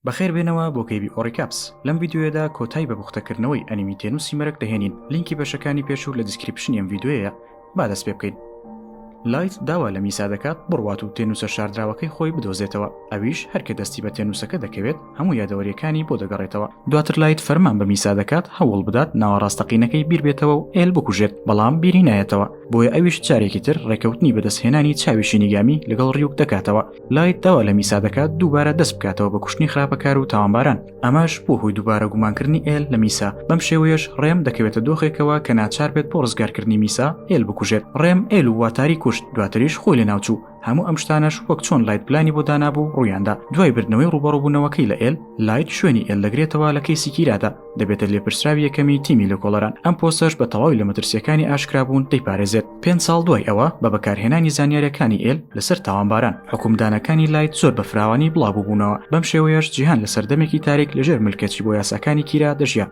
بەخێر بێنەوە بۆ کەیبی ئۆڕیکاپس لەم یددیوەدا کۆتای بە بوختەکردنەوەی ئەنیمی تێنوسی مەرەک دەهێنین لینکی بەشەکانی پێشوو لە دیسکرپشنی ئەم یددیوەیە با دەست پێ بکەین لایت داوا لە میسا دەکات بڕوات و تێنووسە شاردراوەکەی خۆی بدۆزێتەوە ئەویش هەرکە دەستی بە تێنووسەکە دەکەوێت هەموو یادەوەریەکانی بۆ دەگەڕێتەوە دواتر لایت فەرمان بە میسا دەکات هەوڵ بدات ناوەڕاستەقینەکەی بیربێتەوە و ئێل بکوژێت بەڵام بیری نایەتەوە بۆیە ئەویش جارێکی تر ڕێکەوتنی بەدەستهێنانی چاوی شینیگامی لەگەڵ ڕیوک دەکاتەوە لایت داوا لە میسا دەکات دووبارە دەست بکاتەوە بە کوشتنی خراپەکار و تاوانباران ئەمەش بۆ هۆی دووبارە گومانکردنی ئێل لە میسا بەم شێوەیەش ڕێم دەکەوێتە دۆخێکەوە کە ناچار بێت بۆ ڕزگارکردنی میسا ئێل بکوژێت ڕێم ئێل و واتاری کوشت دواتریش خۆی لە ناوچوو هەموو ئەم شتانەش وەک چۆن لایت پلانی بۆ دانابوو ڕوویاندا دوای بردنەوەی ڕوبەڕبوونەوەکەی لە ئێل لایت شوێنی ئێل دەگرێتەوە لە کەیسی کیرادا دەبێتە لێپرسراوی یەکەمی تیمی لە کۆڵەران ئەم پۆسەش بە تەواوی لە مەترسیەکانی ئاشکرابوون دەیپارێزێت پێنج ساڵ دوای ئەوە بە بەکارهێنانی زانیاریەکانی ئێل لەسەر تاوانباران حکومدانەکانی لایت زۆر بە فراوانی بڵاوبووبوونەوە بەم شێوەیەش جیهان لە سەردەمێکی تاریک لەژێر ملکەچی بۆ یاساکانی کیرا دەژیا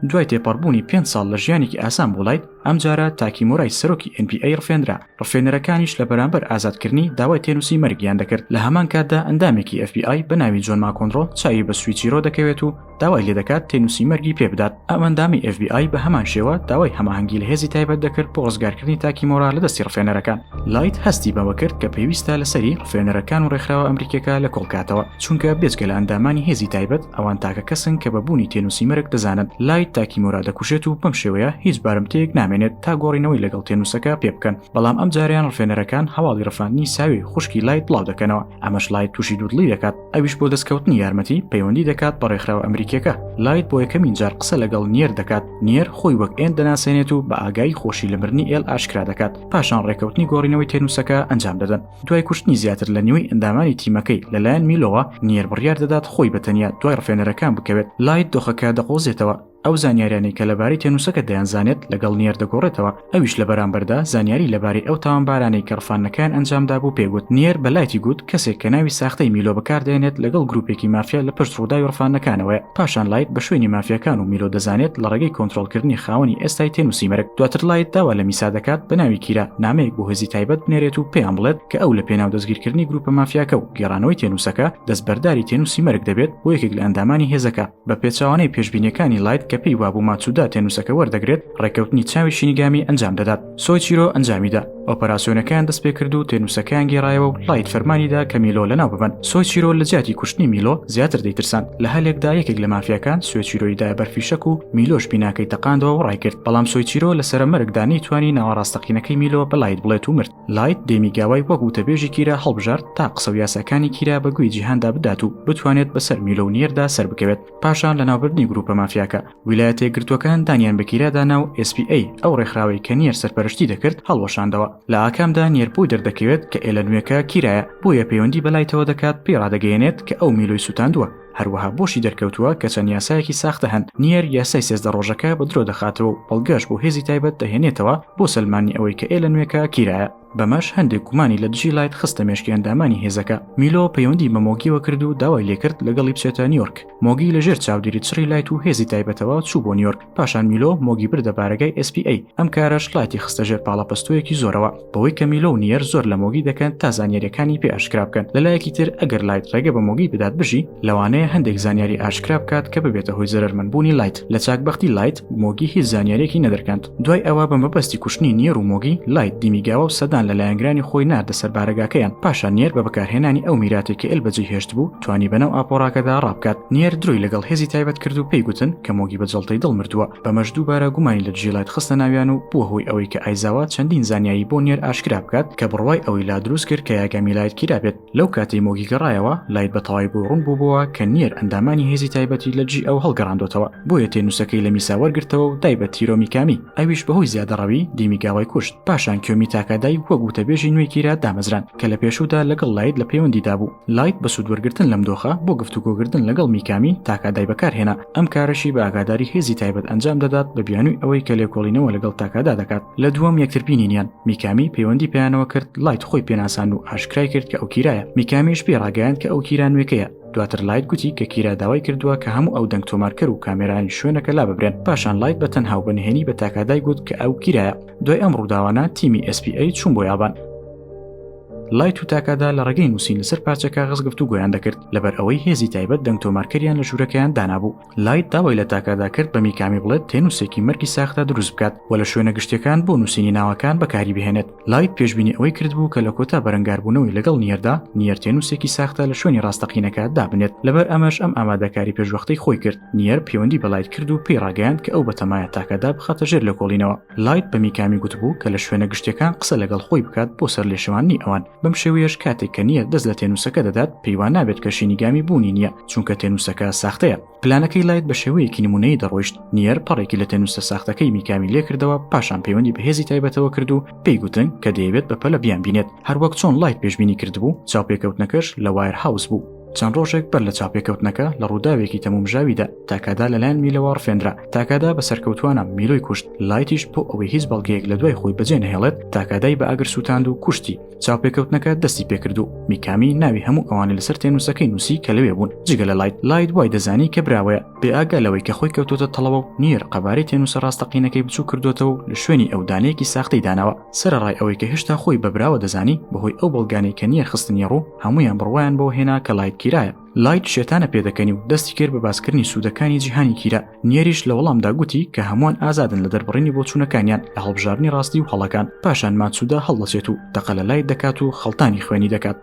دوای تێپەڕبوونی پێ ساڵ لە ژیانێکی ئاسان بۆ لایت ئەمجارە تاکیمۆرای سەرۆکی NPA ڕفێنرا ڕفێنەرەکانیش لە بەرامبەر ئازادکردنی داوای تێنووسی مەرگیان دەکرد لە هەمان کاتدا ئەندامێکی ئەف بی ئای بە ناوی جۆن ماکۆنڕۆ چاوی بە سویچیرۆ دەکەوێت و داوای لێ دەکات تێنووسی مەرگی پێ بدات ئەم ئەندامی ئەف بی ئای بە هەمان شێوە داوای هەماهەنگی لە هێزی تایبەت دەکرد بۆ ڕزگارکردنی تاکیمۆرا لە دەستی ڕفێنەرەکان لایت هەستی بەوە کرد کە پێویستە لەسەری ڕفێنەرەکان و ڕێکخراوە ئەمریکیەکە لە کۆڵکاتەوە چونکە بێجگە لە ئەندامانی هێزی تایبەت ئەوان تاکە کەسن کە بە بوونی تێنووسی مەرگ دەزانن لایت تاکیمۆرا دەکوژێت و بەم شێوەیە هیچ بارمتەیەک نامێنێت تا گۆڕینەوەی لەگەڵ تێنووسەکە پێ بکەن بەڵام ئەم جارەیان ڕفێنەرەکان هەواڵی ڕفاندنی ساوێ خوشکی لایت بڵاو دەکەنەوە ئەمەش لایت تووشی دوودڵی دەکات ئەویش بۆ دەستکەوتنی یارمەتی پەیوەندی دەکات بە ڕێکخراوە ئەمریکیەکە لایت بۆ یەکەمین جار قسە لەگەڵ نیەر دەکات نیەر خۆی وەک ئێن دەناسێنێت و بە ئاگایی خۆشی لە مردنی ئێل ئاشکرا دەکات پاشان ڕێکەوتنی گۆڕینەوەی تێنووسەکە ئەنجام دەدەن دوای کوشتنی زیاتر لە نیوەی ئەندامانی تیمەکەی لەلایەن میلۆوە، نیەر بڕیار دەدات خۆی بە تەنیا دوای ڕفێنەرەکان بکەوێت، لایت دۆخەکە دەقۆزێتەوە، ئەو زانیاریانەی کە لەبارەی تێنووسەکە دەیانزانێت لەگەڵ نیەر دەگۆڕێتەوە، ئەویش لە بەرامبەردا زانیاری لەبارەی ئەو تاوانبارانەی کە ڕفاندنەکەیان ئەنجامدابوو پێ گوت، نیەر بە لایتی گوت کەسێک کە ناوی ساختەی میلۆ بەکاردەهێنێت لەگەڵ گروپێکی مافیا لە پشت ڕووداوی ڕفاندنەکانەوەیە. پاشان لایت بە شوێنی مافیاکان و میلۆ دەزانێت لە ڕێگەی کۆنتترۆلکردنی خاوەنی ئێستای تێنووسی مەرگ دواتر لایت داوا لە میسا دەکات بە ناوی کیرا نامەیەک بۆ هێزی تایبەت بنێرێت و پێیان بڵێت کە ئەو لە پێناو دەستگیرکردنی گروپە مافیاکە و گێڕانەوەی تێنووسەکە دەستبەرداری تێنووسی مەرگ دەبێت بۆ یەکێک لە ئەندامانی هێزەکە بە پێچەوانەی پێشبینیەکانی لایت کە پێی وابوو ماتسودا تێنووسەکە وەردەگرێت ڕێککەوتنی چاوی شینیگامی ئەنجام دەدات. سۆیچیرۆ ئەنجامیدا ئۆپەراسسیۆنەکەیان دەست پێ کرد و تێنووسەکەیان گێڕایەوە و لایت فەرمانیدا کە میلۆ لە ناو ببن سۆیچیرۆ لە جیاتی کوشتنی میلۆ زیاتر دەیترسان لە هەلێکدا یەکێک لە مافیاکان سوێچیرۆیدا بەرفیشەک و میلۆش بیناکەی تەقاندەوە و ڕایکرد بەڵام سۆیچیرۆ لەسرە مەرگدا نەیتوانی ناوەڕاستەقینەکەی میلۆ بەلایت بڵێت و مرد لایت دێمی گاوای وەک وتەبێژی کیرا هەڵبژارد تا قسە و یاساکانی کیرا بە گوێی جیهاندا بدات و بتوانێت بەسەر میلۆ و نیردا سەربکەوێت پاشان لە ناوبردنی گروپە مافیاکە ویلایەتە یەکگرتووەکان دانیان بەکیرادانا و SPA ئەو ڕێکخراوەی کە نیەر سەرپەرشتی دەکرد هەڵوەشاندەوە لە ئاکامدا نیەرپوی دەردەکەوێت کە ئێلە نوێکە کیرایە بۆیە پەیوەندی بەلایتەوە دەکات پێی ڕادەگەیەنێت کە ئەو میلۆی سووتاندووە هەروەها بۆشی دەرکەوتووە کە چەند یاسایەکی ساختە هەن نیەر یاسای سێزدە ڕۆژەکە بە درۆ دەخاتەوە و بەڵگەش بۆ هێزی تایبەت دەهێنێتەوە بۆ سەلمانی ئەوەی کە ئێلە نوێکە کیرایە بەمەش هەندێک گومانی لە دژی لایت خستە مێشکی ئەندامانی هێزەکە میلۆ پەیوەندی بە مۆگیەوە کرد و داوای لێکرد لەگەڵی بچێتە نیۆرک مۆگی لە ژێر چاودێری چڕی لایت و هێزی تایبەتەوە چوو بۆ نیۆرک پاشان میلۆ مۆگی بردە بارەگای SPA ئەم کارەش لایتی خستە ژێر پاڵەپەستۆیەکی زۆرەوە بەوەی کە میلۆ و نیەر زۆر لە مۆگی دەکەن تا زانیاریەکانی پێ ئاشکرا بکەن لەلایەکی تر ئەگەر لایت ڕێگە بە مۆگی بدات بژی لەوانەیە هەندێک زانیاری ئاشکرا بکات کە ببێتە هۆی زەرمنبوونی لایت لە چاک بەختی لایت مۆگی هیچ زانیارێکی نەدرکاند دوای ئەوە بە مەبەستی کوشتنی نیێر و مۆگی لایت دیمیگاوە و سەدان لە لایەنگرانی خۆی ناردە سەر بارەگاکەیان پاشان نێر بە بەکارهێنانی ئەو میراتی کە ئل بەجێ هێشت بوو توانی بەناو ئاپۆراکەدا ڕابکات نێر درۆی لەگەڵ هێزی تایبەت کرد و پێی گوتن کە مۆگی بە جڵتەی دڵ مردووە بەمەش دووبارە گومانی لە دژی لایت خستە ناویان و بووە هۆی ئەوەی کە ئایزاوا چەندین زانیایی بۆ نێر ئاشکرا بکات کە بڕوای ئەوەی لا دروست کرد کە یاگامی لایت کیرا بێت لەو کاتەی مۆگی گەڕایەوە لایت بە تەواوی بۆ ڕوون بووبووە کە نیەر ئەندامانی هێزی تایبەتی لە جی ئەو هەڵگەڕاندۆتەوە بۆیە تێنووسەکەی لە میسا وەرگرتەوە و دای بە تیرۆ میکامی ئەویش بەهۆی زیادەڕەوی دیمیگاوای کوشت پاشان کیۆمی تاکادای وەک وتەبێژی نوێی کیرا دامەزراند کە لە پێشوودا لەگەڵ لایت لە پەیوەندیدا بوو لایت بە سوود وەرگرتن لەم دۆخە بۆ گفتوگۆکردن لەگەڵ میکامی تاکادای بەکارهێنا ئەم کارەشی بە ئاگاداری هێزی تایبەت ئەنجام دەدات بە بیانووی ئەوەی کە لێکۆڵینەوە لەگەڵ تاکادا دەکات لە دووەم یەکتربینینیان میکامی پەیوەندی پێیانەوە کرد لایت خۆی پێناسان و ئاشکرای کرد کە ئەو کیرایە میکامیش پێ ڕاگەیان کە ئەو کیرا نوێکەیە دواتر لایت گوتی کە کیرا داوای کردووە کە هەموو ئەو دەنگ تۆمارکەر و کامێرانی شوێنەکە لا ببرێن پاشان لایت بە تەنها و بەنهێنی بە تاکادای گوت کە ئەو کیرایە دوای ئەم ڕووداوانە تیمی SPA چوون بۆ یابان لای توتاکادا لە ڕێگەی نووسین لەسەر پارچە کاغز گفتو گویان دەکرد لەبەر ئەوەی هێزی تایبەت دەنگ تۆمارکەریان لە ژوورەکەیان دانابوو لایت داوای لە تاکادا کرد بە میکامی بڵێت تێنووسێکی مەرگی ساختا دروست بکات و لە شوێنە گشتەکان بۆ نووسینی ناوەکان بەکاری بهێنێت لایت پێشببینی ئەوەی کردبوو کە لە کۆتا بەرەنگاربوونەوەی لەگەڵ نیەردا نیەر تێنووسێکی ساختا لە شوێنی ڕاستەقینەکە دابنێت لەبەر ئەمەش ئەم ئامادەکاری پێشوەختەی خۆی کرد نیەر پەیوەندی بەلایت کرد و پێی ڕاگەیاند کە ئەو بەتەمایە تاکەدا بخاتە ژێر لە کۆڵینەوە لایت بە میکامی گوتبوو کە لە شوێنە گشتیەکان قسە لەگەڵ خۆی بکات بۆ سەر لێشەواننی ئەوان بەم شێوەیەش کاتێک کە نییە دەست لە تێنووسەکە دەدات پێیوان نابێت کە شینیگامی بوونی نییە چونکە تێنووسەکە ساختەیە پلانەکەی لایت بە شێوەیەکی نمونەی دەڕۆیشت نیەر پەڕێکی لە تێنووسە ساختەکەی میکامی لێکردەوە پاشان پەیوەندی بەهێزی تایبەتەوە کرد و پێی گوتن کە دەیەوێت بە پەلە بیان بینێت هەروەک چۆن لایت پێشببینی کردبوو چاوپێکەوتنەکەش لە وایر هاوس بوو چەند ڕۆژێک بەر لە چاپێکەوتنەکە لە ڕووداوێکی تەمومژاویدا تاکادا لەلایەن میلەوە ڕفێنرا تاکادا بە سەرکەوتوانە میلۆی کوشت لایتیش بۆ ئەوەی هیچ بەڵگەیەک لە دوای خۆی بەجێ نهێڵێت تاکادای بە ئاگر سووتاند و کوشتی چاپێکەوتنەکە دەستی پێکرد و میکامی ناوی هەموو ئەوانە لەسەر تێنووسەکەی نووسی کە لەوێ بوون جگە لە لایت لایت وای دەزانی کە براوەیە بێ ئاگا لەوەی کە خۆی کەوتۆتە تەڵەوە و نییە قەبارەی تێنووسە ڕاستەقینەکەی بچوو کردوێتەوە لە شوێنی ئەو دانەیەکی ساختەی داناوە سەرەڕای ئەوەی کە هێشتا خۆی بە براوە دەزانی بەهۆی ئەو بەڵگانەی کە نییە خستنی ڕوو هەمویان بڕوایان بەوە هێنا کە لایت کیرایە لایت شێتانە پێدەکەنی و دەستی کرد بە باسکردنی سوودەکانی جیهانی کیرا نیەریش لە وەڵامدا گوتی کە هەمووان ئازادن لە دەربڕینی بۆچوونەکانیان لە هەڵبژاردنی ڕاستی و هەڵەکان پاشان ماتسودا هەڵدەچێت و تەقە لە لایت دەکات و خەڵتانی خوێنی دەکات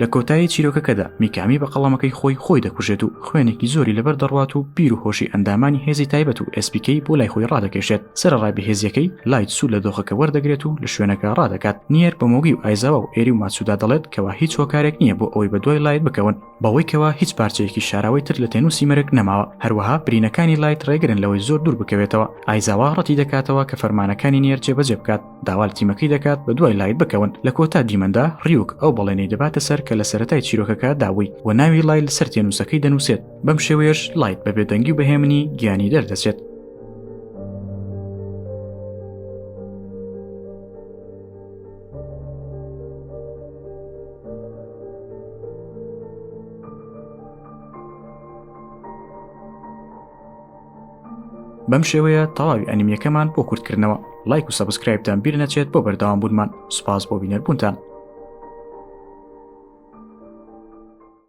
لە کۆتایی چیرۆکەکەدا میکامی بە قەڵەمەکەی خۆی خۆی دەکوژێت و خوێنێکی زۆری لەبەر دەڕوات و پیر و هۆشی ئەندامانی هێزی تایبەت و ئەسپیکەی بۆ لای خۆی ڕادەکێشێت سەرڕای بەهێزیەکەی لایت سوود لە دۆخەکە وەردەگرێت و لە شوێنەکە ڕادەکات نیەر بە مۆگی و ئایزاوا و ئێری و ماچودا دەڵێت کەوا هیچ هۆکارێک نییە بۆ ئەوەی بە دوای لایت بکەون بەوەی کەوا هیچ پارچەیەکی شاراوەی تر لە تێنوسی مەرگ نەماوە هەروەها برینەکانی لایت ڕێگرن لەوەی زۆر دوور بکەوێتەوە ئایزاوا ڕەتی دەکاتەوە کە فەرمانەکانی نیەر جێبەجێ بکات داوا لە تیمەکەی دەکات بە دوای لایت بکەون لە کۆتا دیمەندا ڕیوک ئەو بەڵێنەی دەباتە سەر کە لە سەتای چیرۆکەکە داوی و ناوی لای لەسەر تێنووسەکەی دەنووسێت بەم شێوەیەش لایت بە بێدەنگی و بەهێمنی گیانی دەردەچێت بەم شێوەیە تەواوی ئەنیمیەکەمان بۆ کورتکردنەوە لایک و سەبسکرایبتان بیر نەچێت بۆ بەرداوام بوونمان سوپاس بۆ بینەربوونتان